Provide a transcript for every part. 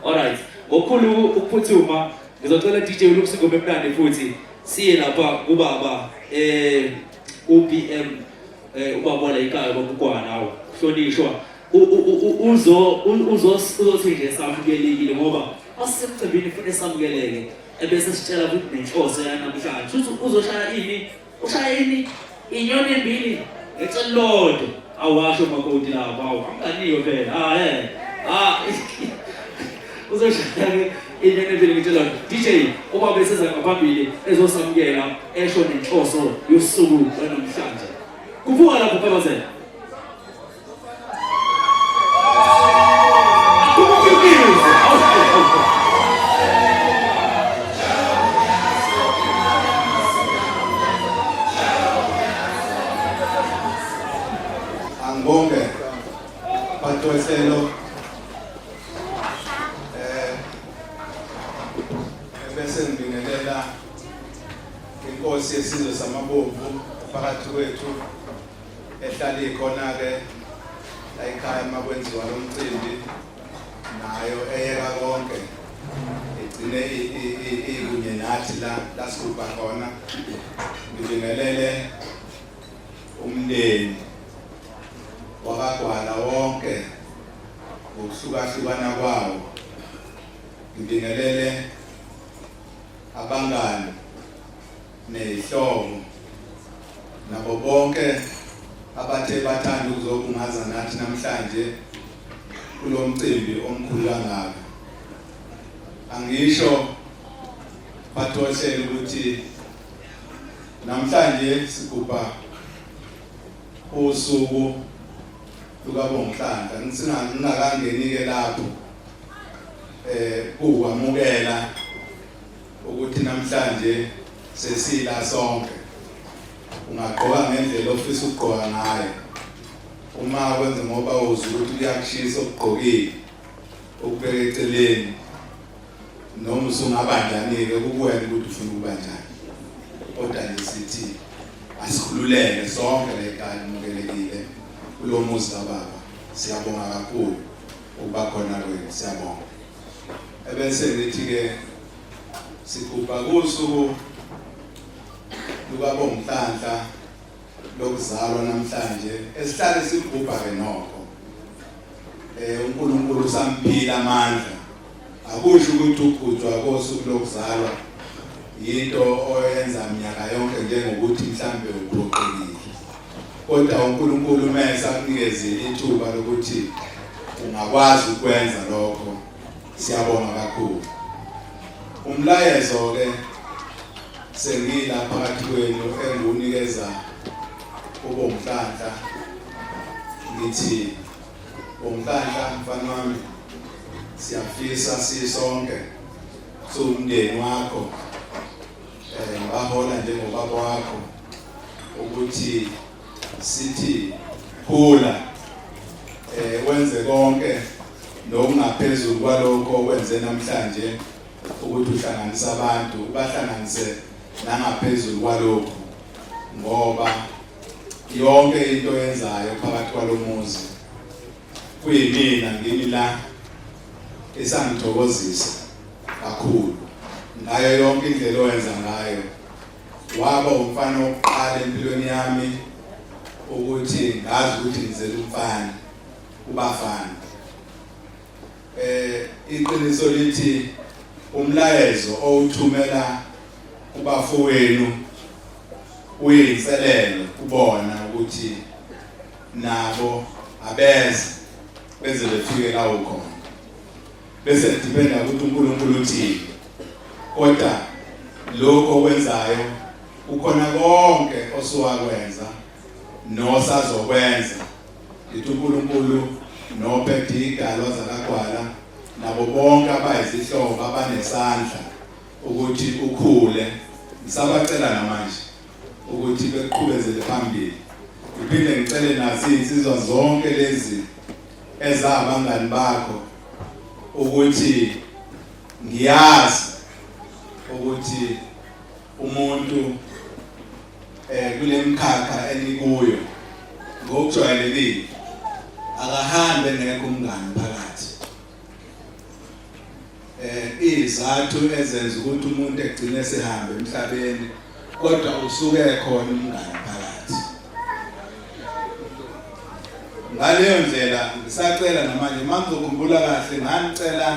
Alright, ngokukhulu ukuphuthuma ngizocela DJ ulungise ingoma emnandi futhi siye lapha kubaba eh uBM eh ubaba la ikhaya bakukwana awu hlonishwa uzo uzo uzothi nje samukelekile ngoba asemcimbini futhi samukeleke ebese sitshela ukuthi nenhloso yanamhlanje uzoshaya ini ushayini inyoni mbili ecelilodwa awasho makoti lapho awu anganiwe phela ah eh ah uzoshaya ke inyoni mbili ngitshela DJ uma beseza ngaphambili ezosamukela esho nenhloso yosuku lwanamhlanje kuphuka lapho phela Angibonge batweselo eh bese ngibingelela inkosi yesizwe samabomvu phakathi kwethu ehlala ikhona-ke la ekhaya uma kwenziwa lo mcimbi nayo eyeka konke igcine ikunye nathi la lasigubha khona ngibingelele umndeni wakagwala wonke ngokuhlukahlukana kwawo ngibingelele abangani neyihlobo nabo bonke abathe bathanda ukuzobungaza nathi namhlanje kulo mcimbi omkhulu kangaka angisho bathoshele ukuthi namhlanje sigubha usuku lukabongihlanga ngingakangeni-ke lapho um kuwamukela ukuthi namhlanje sesila sonke ungagqoka ngendlela ofisa ukugqoka ngayo uma kwenze ngoba uzi ukuthi kuyakushisa okugqokile ukubeka eceleni noma usungaba njani-ke kukuwena ukuthi ufuna ukuba njani kodwa nje sithi asikhululeke sonke la ekhaya nimukelekile kulo muzi kababa siyabonga kakhulu ukuba khona kwenu siyabonga ebese ngithi-ke sigubha kusuku lukabongitanhla lokuzalwa namhlanje esihlale sigubha-ke nokho um unkulunkulu usamphila amandla akusho ukuthi ugujwa kosuku lokuzalwa yinto oyenza minyaka yonke njengokuthi mhlambe uphoqile kodwa uNkulunkulu uma esakunikezile ithuba lokuthi ungakwazi ukwenza lokho siyabonga kakhulu umlayezo ke sengila phakathi kwenu engunikeza ubomhlanhla ngithi bomhlanhla mfana wami siyafisa sisonke sumndeni wakho Eh, ngibahola njengobaba wakho ukuthi sithi khula eh wenze konke nokungaphezulu kwalokho okwenze namhlanje ukuthi uhlanganise abantu ubahlanganise nangaphezulu kwalokho ngoba yonke into yenzayo phakathi kwalomuzi kuyimina ngimi la esangithokozisa kakhulu ngayo yonke indlela owenza ngayo waba umfana wokuqala empilweni yami ukuthi ngazi ukuthi ngizela umfana ubafana eh iqiniso lithi umlayezo owuthumela kubafowenu uyinselelo kubona ukuthi nabo abeze beze befike la ukhona bese dependa ukuthi uNkulunkulu uthini kodwa lokho okwenzayo ukhona konke osuwakwenza nosazokwenza lithi uNkulunkulu nophethe idalwa zakagwala nabo bonke abayizihlobo abanesandla ukuthi ukhule ngisabacela namanje ukuthi beqhubezele phambili ngiphinde ngicele nazi insizwa zonke lezi ezabangani bakho ukuthi ngiyazi ukuthi umuntu eh kulemkhakha enikuyo ngokujwayelekile akahambe ngekho umngani phakathi eh izathu ezenza ukuthi umuntu egcine sihambe emhlabeni kodwa usuke ekhona umngane phakathi ngaleyo ndlela ngisacela namanje mangizokhumbula kahle nganicela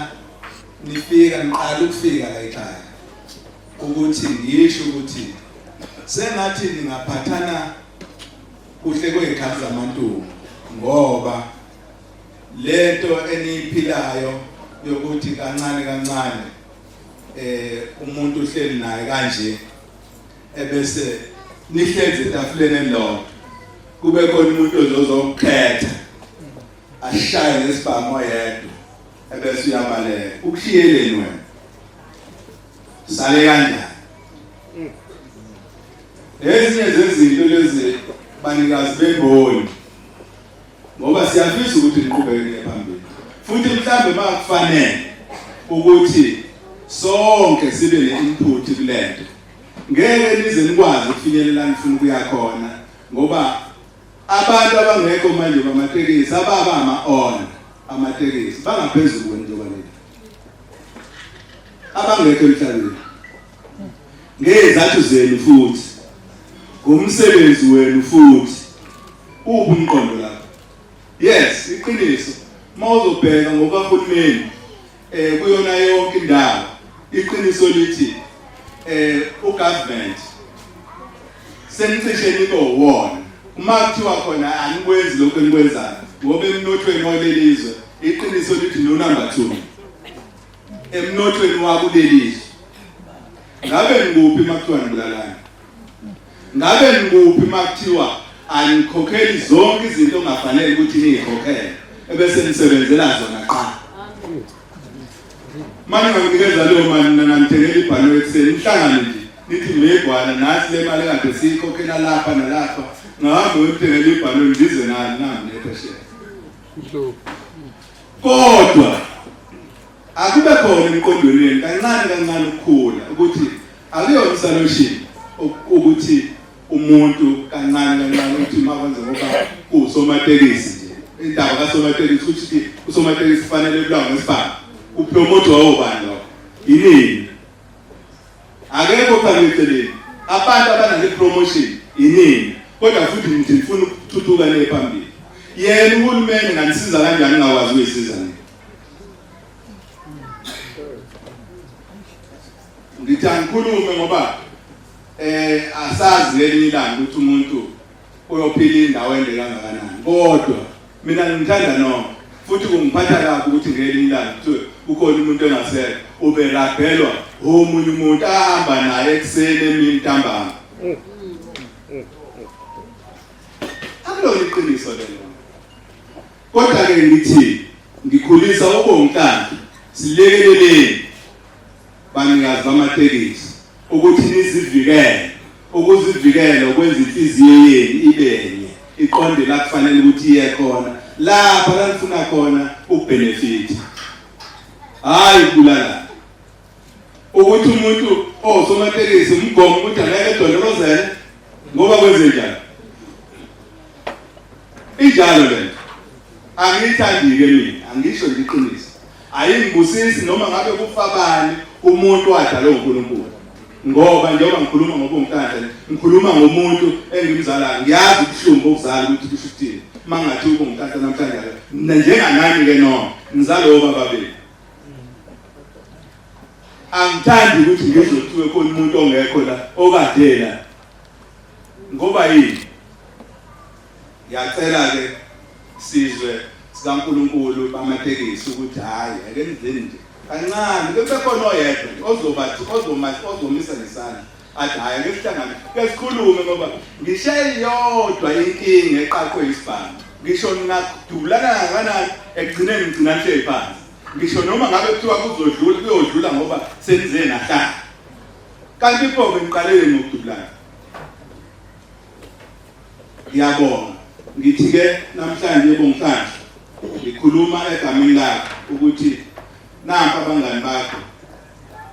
nifika niqala ukufika la ekhaya ukuthi ngisho ukuthi sengathi ningaphathana kuhle kwey'khathi zamantungu ngoba Lento eniyiphilayo yokuthi kancane kancane eh umuntu uhleli naye kanje ebese nihlezi etafuleni elilodwa kube khona umuntu ozozokukhetha ashaye nesibhamu yedwa ebese uyabaleka ukushiyeleni wena sale kanjani ezinye zezinto lezi banikazi bemboni ngoba siyafisa ukuthi niqhubeke niye phambili futhi mhlawumbe uma kufanele ukuthi sonke sibe ne-input kule nto ngeke nize nikwazi ukufinyelela nifuna ukuya khona ngoba abantu abangekho manje bamatekisi ababa ama-on amatekisi bangaphezulu kwentoba lena abangekho emhlabeni ngezathu zenu futhi ngomsebenzi wenu futhi uphi umqondo lapho yes iqiniso uma uzobheka ngokahulumeni eh kuyona yonke indawo iqiniso lithi eh ugovernment senicishe nibo wona uma kuthiwa khona anikwenzi lokho enikwenzayo ngoba emnothweni walelizwe iqiniso lithi no number 2 emnothweni wakuleli izwe ngabe ngikuphi makuthiwa nibulalana ngabe ngikuphi makuthiwa anikhokheli zonke izinto ongafanele ukuthi niyikhokhele ebese nisebenzela zona qha manje nginikeza leyo mali mina ngithengela ibhalo ekuseni ihlangane nje nithi mebhwana nathi le mali kade siyikhokhela lapha nalapha ngahambe uyotengela ibhalo ndize nani nami nephesheya kodwa akube khona emqondweni wenu kancane kancane ukukhula ukuthi akuyona isolution ukuthi umuntu kancane kancane ukuthi makwenze ngoba kuwusomatekisi nje indaba kasomatekisi ukuthi usomatekisi kufanele ebulawe ngesibhamu upromote wawobani lokho yinini Akekho phambili eceleni. Abantu abanale promotion inini. Kodwa futhi ngithi ngifuna ukuthuthuka le phambili. Yena uhulumeni nganisiza kanjani ngakwazi ukuyisiza nini? Ngithi angikhulume ngoba eh asazi ngelinye ilanga ukuthi umuntu uyophila indawo ende kangakanani kodwa mina ngimthanda nokho futhi kungiphatha kabi ukuthi ngelinye ilanga kuthiwe kukhona umuntu engasele uberabhelwa omunye umuntu ahamba naye ekuseni emini ntambama akulona iqiniso lelo kodwa-ke ngithi ngikhulisa ubongikakhe silekeleleni banikazi bamatekisi Ukuthi nizivikele. Ukuzivikela ukwenza inhliziyo yenu ibenye, iqonde la kufanele ukuthi iye khona. Lapha la nifuna khona ukubenefit. Hayi ukubulala. Ukuthi umuntu osomatekisi umgomo ukuthi angeke edondolozele ngoba kwenze njani? Injalo lento. Angiyithandi-ke mina, angisho nje iqiniso. Ayingibusisi noma ngabe kufa bani umuntu wadalwe uNkulunkulu. Ngoba njengoba ngikhuluma ngobunkandla ngikhuluma ngomuntu engimzalayo ngiyazi ubuhlungu bokuzala ukuthi kusho ukuthini mangathi ubunkandla namhlanje njenganami ke noma ngizale obaba benu angithandi ukuthi ngizothiwe khona umuntu ongekho la okadela ngoba yini Ngiyacela ke sizwe sikaNkulunkulu bamatekisi ukuthi hayi ake nizeni nje kancane bebekhona oyedwa ozobathi ozomathi ozomisa ngesandla athi hayi ake sihlangane ke sikhulume ngoba ngishe yodwa inkinga eqaqwe isibhamu ngisho ningadulana kangakanani ekugcineni ngigcina nihleli phansi ngisho noma ngabe kuthiwa kuzodlula kuyodlula ngoba senize nahlala kanti pho ngiqalele ngokudulana Ngiyabonga. Ngithi-ke namhlanje bongihlanje ngikhuluma egameni lakho ukuthi nampa abangani bakho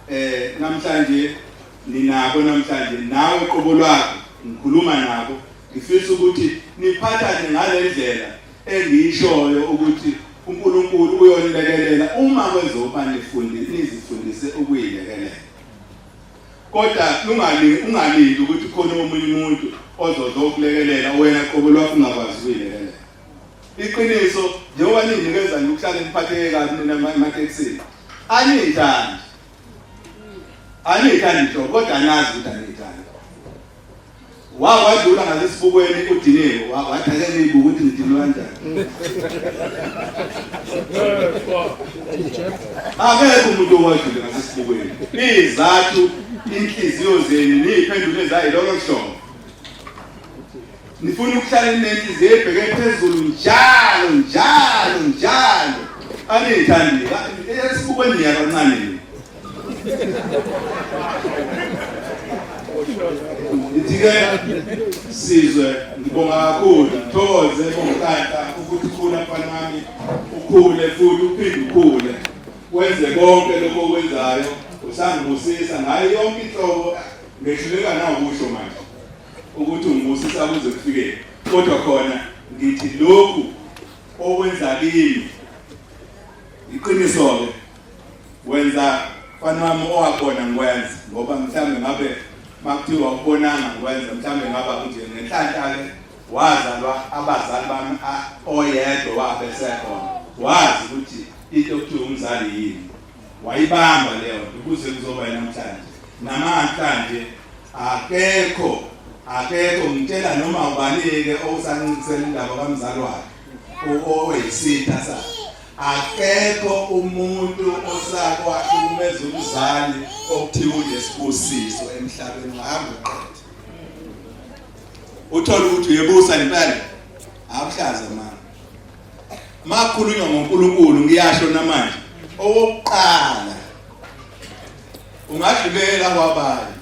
eh namhlanje ninabo namhlanje nawe qobo lwakho ngikhuluma nabo ngifisa ukuthi niphathane ngalendlela engiyishoyo ukuthi uNkulunkulu uyonilekelela uma kwezoba nifundile nizifundise ukuyilekelela Kodwa lungali ungalindi ukuthi khona omunye umuntu ozozokulekelela wena qobo lwakho ungakwazi ukuyilekelela. Iqiniso njengoba ninginikeza nje ukuhlale niphatheke kabi nina ematekisini. Aniyithandi. Aniyithandi nto kodwa nazi ukuthi aniyithandi. Wawa wadlula ngalesibukweni udinile wawa wathi ake nibuke ukuthi ngidinwe kanjani. Akekho umuntu owadlula ngalesibukweni. Izathu inhliziyo zenu niyiphendule zayi lokho kusho. Ngifuna ukuhlale nenhliziyo ebheke phezulu njalo njalo njalo. Aniyithandi esibuko niya kancane. Ngithike sizwe ngibonga kakhulu ngithokoze bongikanta ukuthi khula mfana wami ukhule futhi uphinde ukhule wenze konke lokho okwenzayo usangibusisa ngayo yonke inhlobo ngehluleka nawukusho manje ukuthi ungibusisa kuze kufikele kodwa khona ngithi lokhu okwenza kimi iqiniso-ke wenza mfana wami owakhona ngikwenza ngoba mhlawumbe ngabe makuthiwa ukubonanga ngikwenza mhlawumbe ngaba kunje ngenhlanhla-ke wazalwa abazali bami oyedwa wabesekhona wazi ukuthi into okuthiwa umzali yini wayibamba leyo nto kuze kuzoba namhlanje namhlanje akekho akekho ngitshela noma ubanike owusancintisela indaba kamzali wakhe oweyisitha sakhe akekho umuntu osakwakhe umeza umzali okuthiwa unesibusiso emhlabeni ngahambe uqede uthole ukuthi uyebusa impela akuhlaza mama makhulunywa ngoNkulunkulu ngiyasho namanje owokuqala ungadlulela kwabanye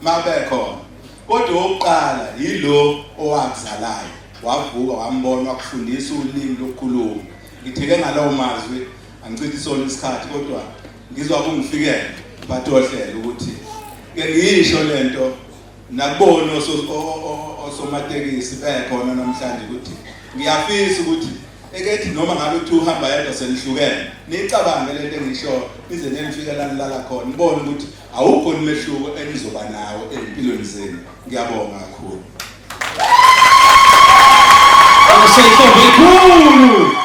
mabekhona kodwa owokuqala yilo owakuzalayo wavuka wambona wakufundisa ulimi lokukhuluma ngitheke ngalawo mazwi angichithi sona isikhathi kodwa ngizwa kungifikele bathi ohlele ukuthi ke ngisho lento nakubona osomatekisi bekhona namhlanje ukuthi ngiyafisa ukuthi ekethi noma ngabe uthi uhamba yedwa senihlukene niyicabange lento engishoyo nize nenifike la nilala khona nibone ukuthi awukho umehluko enizoba nawo ezimpilweni zenu ngiyabonga kakhulu Você foi bem cool!